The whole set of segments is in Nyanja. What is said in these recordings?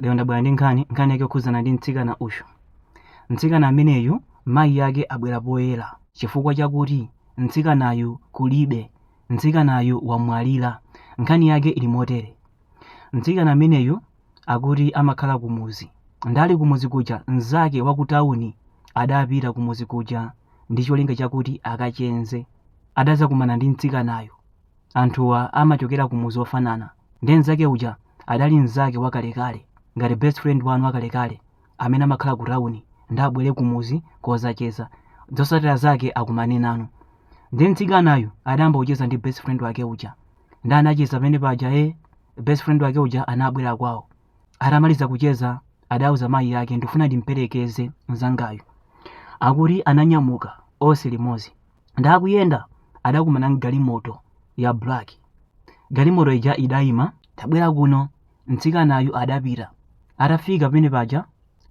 lero ndabwera ndi nkhani nkhani yake yokhudzana ndi mtsikana uyu mtsikana ameneyu mayi yake abwera poyera chifukwa chakuti mtsikanayu kulibe mtsikanayu wamwalira nkhani yake ili motere mtsikana ameneyu akuti amakhala kumuzi ndali kumuzi kuja mnzake wa ku tawuni adapita kumuzi kuja ndi cholinga chakuti akacheze adadzakumana ndi mtsikanayo anthuwa amachokera kumudzi ofanana nde mzake uja adali mzake wakalekale ngati best friend wanu wakalekale amene amakhala ku town nde abwere kumudzi kozacheza zotsatira zake akumane nanu nde mtsikanayu adayamba kucheza ndi best friend wake uja nde anacheza pamene paja e best friend wake uja anabwera kwawo atamaliza kucheza adauza mayi ake ndifuna ndimperekeze mzangayu akuti ananyamuka onse limodzi nde akuyenda adakumana ndi galimoto ya black galimoto ija idayima tabwera kuno mtsikanayu adapita atafika pamene paja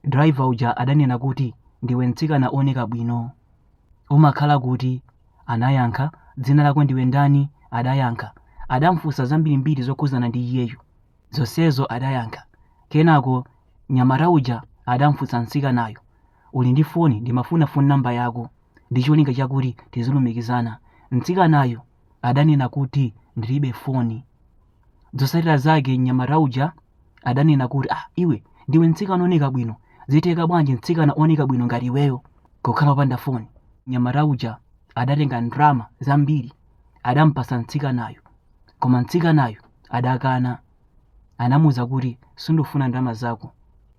driver uja adanena kuti ndiwe mtsikana oneka bwino umakhala kuti anayankha dzina lako ndiwe ndani adayankha adamfunsa zambirimbiri zokhudzana ndi iyeyu zonsezo adayankha kenako nyamata uja adamfunsa mtsikanayo uli ndi foni ndimafuna foni namba yako ndi cholinga chakuti tizilumikizana mtsikanayo adanena kuti ndilibe foni zotsatira zake mnyamata uja adanena kuti ah iwe ndiwe mtsikana oneka bwino zitheka bwanji mtsikana oneka bwino ngati iweyo kukhala opanda foni mnyamata uja adatenga ndalama zambiri adampasa mtsikanayo koma mtsikanayo adakana anamuwuza kuti sindifuna ndalama zako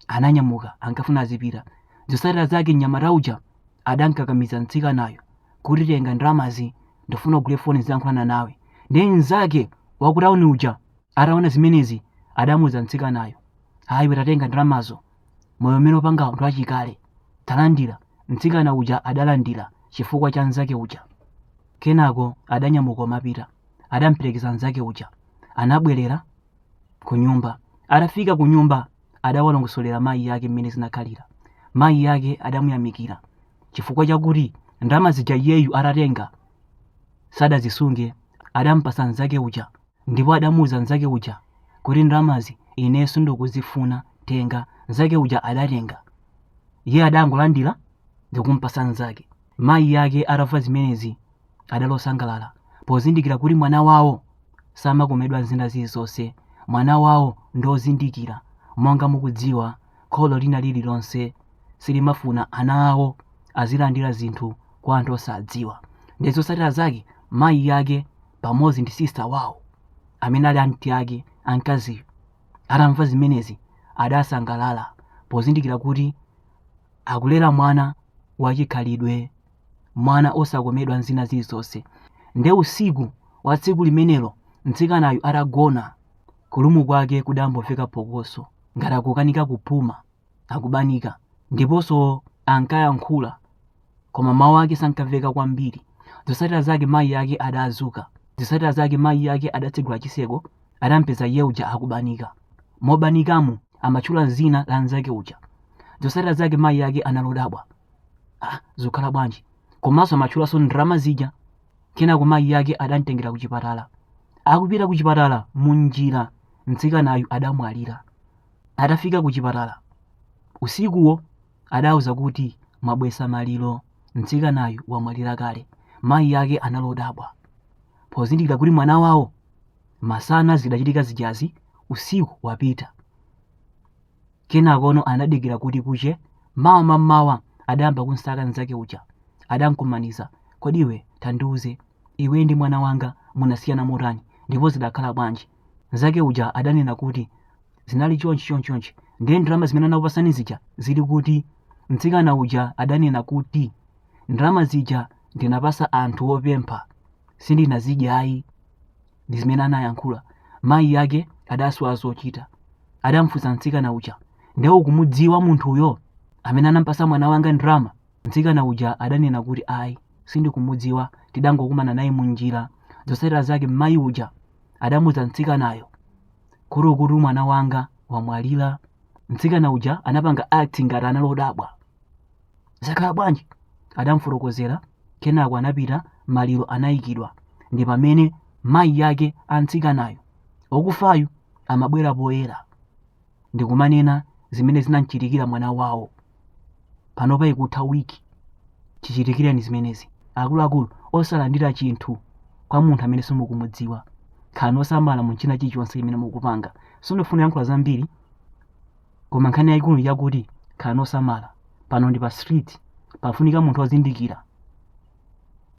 ananyamuka ankafuna azipita zotsatira zake mnyamata uja adamkakamiza mtsikanayo kuti tenga ndalamazi ndifuna ugule foni zilankhulana nawe ndiye mnzake wakutauni uja ataona zimenezi adamuuza mtsikanayo a iwe tatenga ndalamazo moyo umene upanga ndi wachikale talandira mtsikana uja adalandira chifukwa cha mnzake uja kenako adanyamuka kumapita adamperekeza mnzake uja anabwerera kunyumba atafika kunyumba adawalongosolera mayi ake mmene zinakhalira mayi ake adamuyamikira chifukwa chakuti ndalama zija iyeyu atatenga sadazisunge adampasa mnzake uja ndipo adamuuza mnzake uja kuti ndalamazi ine sindikuzifuna tenga mnzake uja adatenga iye adangolandira ndikumpasa mnzake mayi ake atamva zimenezi adali osangalala pozindikira kuti mwana wawo samakomedwa ndi zina zilizonse mwana wawo ndi ozindikira monga mukudziwa kholo lina lililonse silimafuna ana awo azilandira zinthu kwa anthu osadziwa ndi zotsatira zake mayi yake pamodzi ndi sista wawo amene ali anti ake amkaziwo atamva zimenezi adasangalala pozindikira kuti akulera mwana wachikhalidwe mwana osakomedwa ndi zina zilizonse nde usiku wa tsiku limenelo mtsikanayu atagona kulumu kwake kudamboveka phokoso ngati akukanika kupuma akubanika ndiponso ankayankhula koma mawu ake sankamveka kwambiri zosatira zake mayi ake adadzuka zosatira zake mayi ake adatsegula chiseko adampeza iye uja akubanika mobanikamo amatchula dzina la mnzake uja zosatira zake mayi ake anali odabwa zikukhala bwanji komanso amatchulanso ndalama zija kenako mayi yake adamtengera ku chipatala akupita ku chipatala munjira mtsikanayu adamwalira atafika ku chipatala usikuwo adauzidwa kuti mwabwesa maliro mtsikanayu wamwalira kale mayi yake anali odabwa pozindikira kuti mwana wawo masana zidachitika zijazi usiku wapita kenakono anadikira kuti kuche mawa mammawa adayamba kumsaka mnzake uja adamkumaniza kodi iwe tandiuze iwe ndi mwana wanga munasiyana motani ndipo zidakhala bwanji mnzake uja adanena kuti zinali chonchi chonchi chonchi ndiye ndalama zimene anakupasani zija zili kuti mtsikana uja adanena kuti ndalama zija ndinapasa anthu opempha sindinazidyayi ndi zimene anayankhula mayi ake adasowa zochita adamfunsa mtsikana uja nde ukumudziwa munthuyo amene anampasa mwana wanga ndalama mtsikana uja adanena kuti ayi sindikumudziwa tidangokumana naye munjira zotsatira zake mayi uja adamuuza mtsikanayo kuti ukuti mwana wanga wamwalira mtsikana uja anapanga act ngati anali odabwa zakhala bwanji? Adamfotokozera kenako anapita maliro anayikidwa ndi pamene mayi ake a mtsikanayo okufayo amabwera poyera ndikumanena zimene zinamchitikira mwana wawo. Panopa ikutha wiki chichitikireni zimenezi. Akuluakulu osalandira chinthu kwa munthu amene simukumudziwa. Khalani osamala mu china chilichonse chimene mukupanga. Sindifuna kuyankhula zambiri. koma nkhani yayikulu yakuti khalani osamala pano ndi pa street pafunika munthu ozindikira